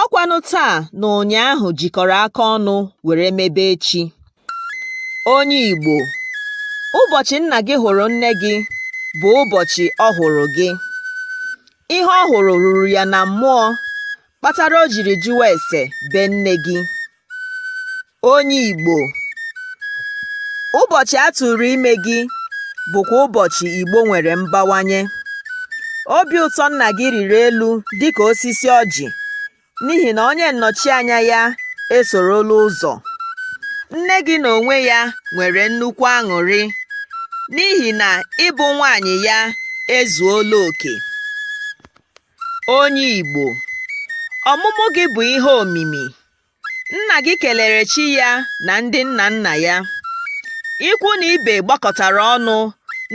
ọkwanụ taa na ụnyaahụ jikọrọ aka ọnụ were mebe echi onye Igbo ụbọchị nna gị hụrụ nne gị bụ ụbọchị ọ hụrụ gị ihe ọ hụrụ ruru ya na mmụọ kpatara o jiri jụwa ese be nne gị Onye Igbo, ụbọchị a tụrụ ime gị bụkwa ụbọchị Igbo nwere mbawanye. Obi ụtọ nna gị rịrị elu dịka osisi ọjị n'ihi na onye nnọchianya ya esorola ụzọ. Nne gị n'onwe ya nwere nnukwu aṅụrị n'ihi na ịbụ nwaanyị ya ezuola oke. Onye Igbo, ọmụmụ gị bụ ihe omimi Nna gị kelere chi ya na ndị nna nna ya. Ikwu na ibe gbakọtara ọnụ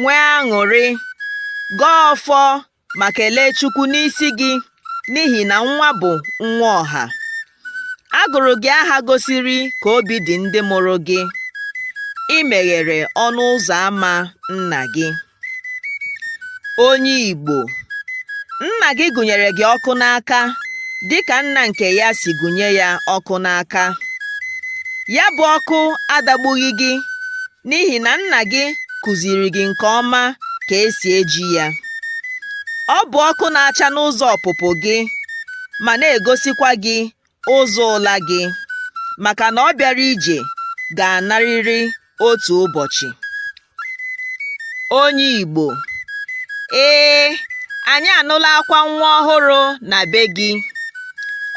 nwee aṅụrị, gọọ ọfọ ma kelee Chukwu n'isi gị n'ihi na nwa bụ nwa ọha. A gụrụ gị aha gosiri ka obi dị ndị mụrụ gị. I meghere ọnụ ụzọ ama nna gị. Onye Igbo, nna gị gụnyere gị ọkụ n'aka dịka nna nke ya si gụnye ya ọkụ n'aka. Ya bụ ọkụ adagbughị gị n'ihi na nna gị kụziiri gị nke ọma ka e si eji ya. Ọ bụ ọkụ na-acha n'ụzọ ọpụpụ gị ma na-egosikwa gị ụzọ ụla gị maka na ọ bịara ije ga-anarịrị otu ụbọchị onye Igbo ee anyị anụla akwa nwa ọhụrụ na be gị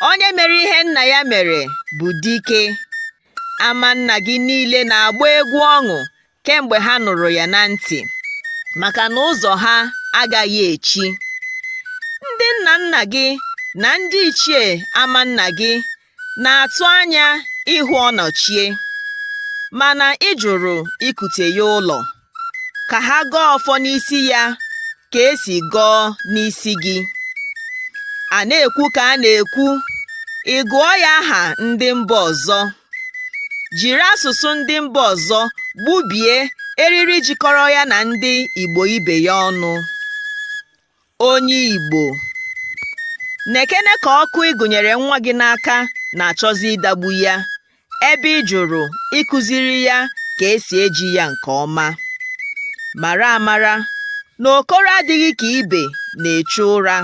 onye mere ihe nna ya mere bụ dike ama nna gị niile na-agba egwu ọṅụ kemgbe ha nụrụ ya na ntị maka na ụzọ ha agaghị echi ndị nna nna gị na ndị ichie ama nna gị na-atụ anya ịhụ ọnọchie mana ị jụrụ ikute ya ụlọ ka ha gọọ ọfọ n'isi ya ka e si gọọ n'isi gị a na-ekwu ka a na-ekwu ị gụọ ya aha ndị mba ọzọ jiri asụsụ ndị mba ọzọ gbubie eriri jikọrọ ya na ndị Igbo ibe ya ọnụ. Onye Igbo, nekene ka ọkụ ị gụnyere nwa gị n'aka na-achọzi ịdagbu ya, ebe ị jụrụ ịkụziri ya ka e si eji ya nke ọma. Mara amara na okoro adịghị ka ibe na-echu ụra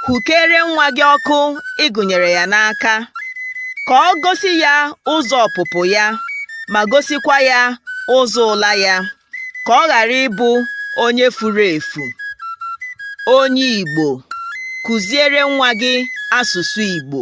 hụkere nwa gị ọkụ igu nyere ya n'aka ka ọ gosi ya ụzọ ọpụpụ ya ma gosikwa ya ụzọ ụla ya ka ọ ghara ịbụ onye furu efu onye Igbo kuziere nwa gị asụsụ Igbo